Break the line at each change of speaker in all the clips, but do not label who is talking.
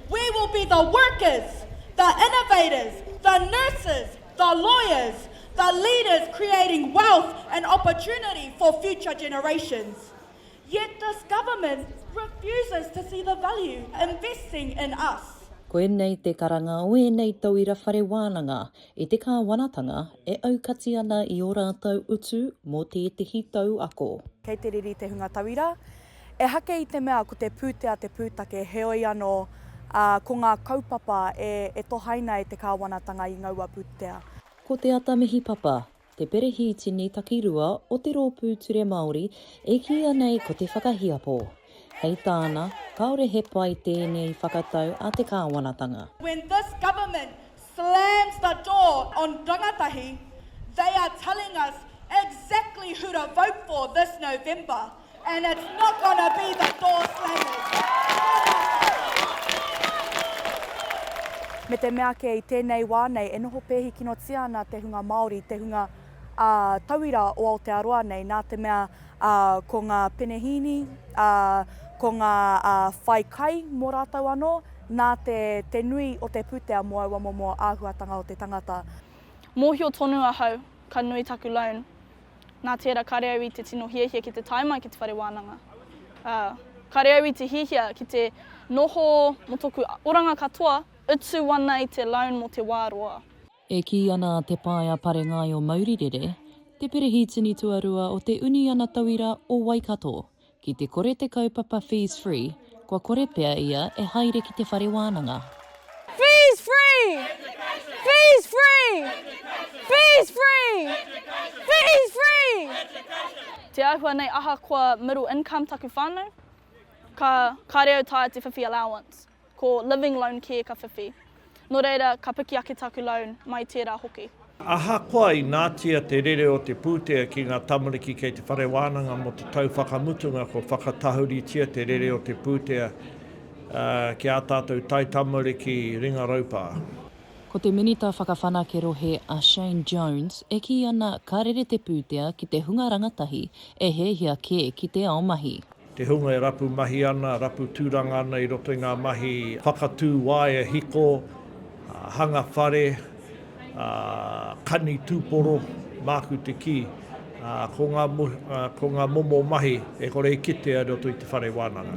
We will be the workers, the innovators, the nurses, the lawyers, the leaders creating wealth and opportunity for future generations. Yet this government refuses to see the value investing in us. Koinei te
karanga o ēnei tauira whare wānanga i te kāwanatanga e aukati ana i ō rātou utu mō tētehi tau ako. Kei te riri te hunga
tauira. Ehake i te mea ko te pūtea te pūtake, heoi anō, ā, ko ngā kaupapa e, e tohaina e te kāwanatanga i ngaua pūtea. Ko Te Ata
Mihi Papa, te perehītini takirua o te Rōpū Ture Māori e kīia nei ko Te Whakahiapo. Hei tāna, kāore he pai tēnei whakatau a te kāwanatanga. When this
government slams the door on rangatahi, they are telling us exactly who to vote for this November. And it's not gonna be the door slammers.
Me te mea kē, i tēnei wā nei e noho pēhikinotia ana te hunga Māori, te hunga ā, tauira o Aotearoa nei, nā te mea ā, ko ngā penehīni, ā, ko ngā ā, whai kai mō rātou anō, nā te, te nui o te pūtea mō aua momo āhuatanga o te tangata. Mōhio
tonu ahau, ka nui taku loan. Nā tērā kāre au i te tino hiahia ki te tae mai ki te whare wānanga. Ā, kāre au i te hiahia ki te noho mō tōku oranga katoa, utu ana i te loan mō te wā roa. E kī ana
a Te Pae a Pare Ngaio Maurirere, te Perehitini Tuarua o te Uniana Tauira o Waikato, Ki te kore te kaupapa Fees Free, kua kore pea ia e haere ki te whare wānanga. Fees
Free! Fees Free! Fees Free! Fees Free! Te āhua nei ahakoa middle income taku whānau, ka, kāre au tae te whiwhi allowance. Ko Living Loan kē ka whiwhi. Nō reira, ka piki ake taku loan, mai tērā hoki. Ahakoa
inātia te rere o te pūtea ki ngā tamariki kei te whare wānanga mō te tau whakamutunga kua whakatahuritia te rere o te pūtea ki ā tātou taitamariki ringa raupā. Ko te
Minita Whakawhanake Rohe a Shane Jones e kī ana ka rere te pūtea ki te hunga rangatahi e hiahia kē ki te ao mahi. Te hunga e rapu
mahi ana, rapu tūranga ana i roto i ngā mahi whakatū waea hiko, hanga whare, kani tūporo, māku te kī, ko ngā momo mahi e kore e kitea i roto i te whare wānanga.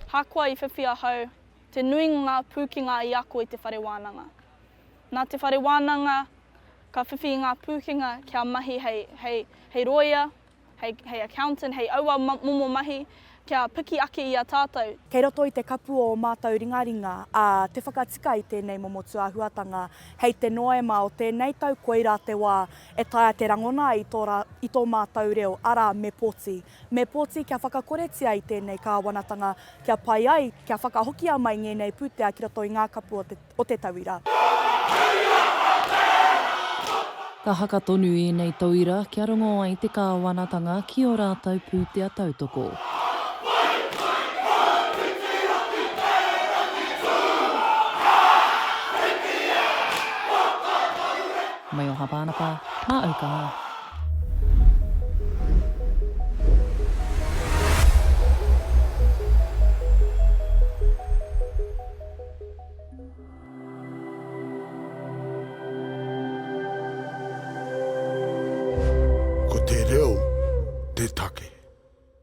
Ahakoa i whiwhi ahau, te nuinga o ngā pūkenga i ako i te whare wānanga. Nā te whare wānanga, ka whiwhi ngā pūkenga kia mahi hei, hei, hei rōia, hei, hei accountant, hei aua momo mahi, kia piki ake i a tātou. Kei roto i te kapu
o ō mātou ringaringa, ā, te whakatika i tēnei momo tūāhuatanga, hei te Noema o tēnei tau koirā te wā e taea te rangona ai i tō, i tō mātou reo, arā, me poti. Me poti kia whakakoretia i tēnei kāwanatanga kia pai ai, kia whakahokia mai ngēnei pūtea ki roto i ngā kapu o te. o te tauira.
Ka haka tonu ēnei tauira kia rongo ai te Kāwanatanga ki ō rātou pūtea tautoko. Mai o Hāpānapa, mā au ka mā.
Ko te reo te take.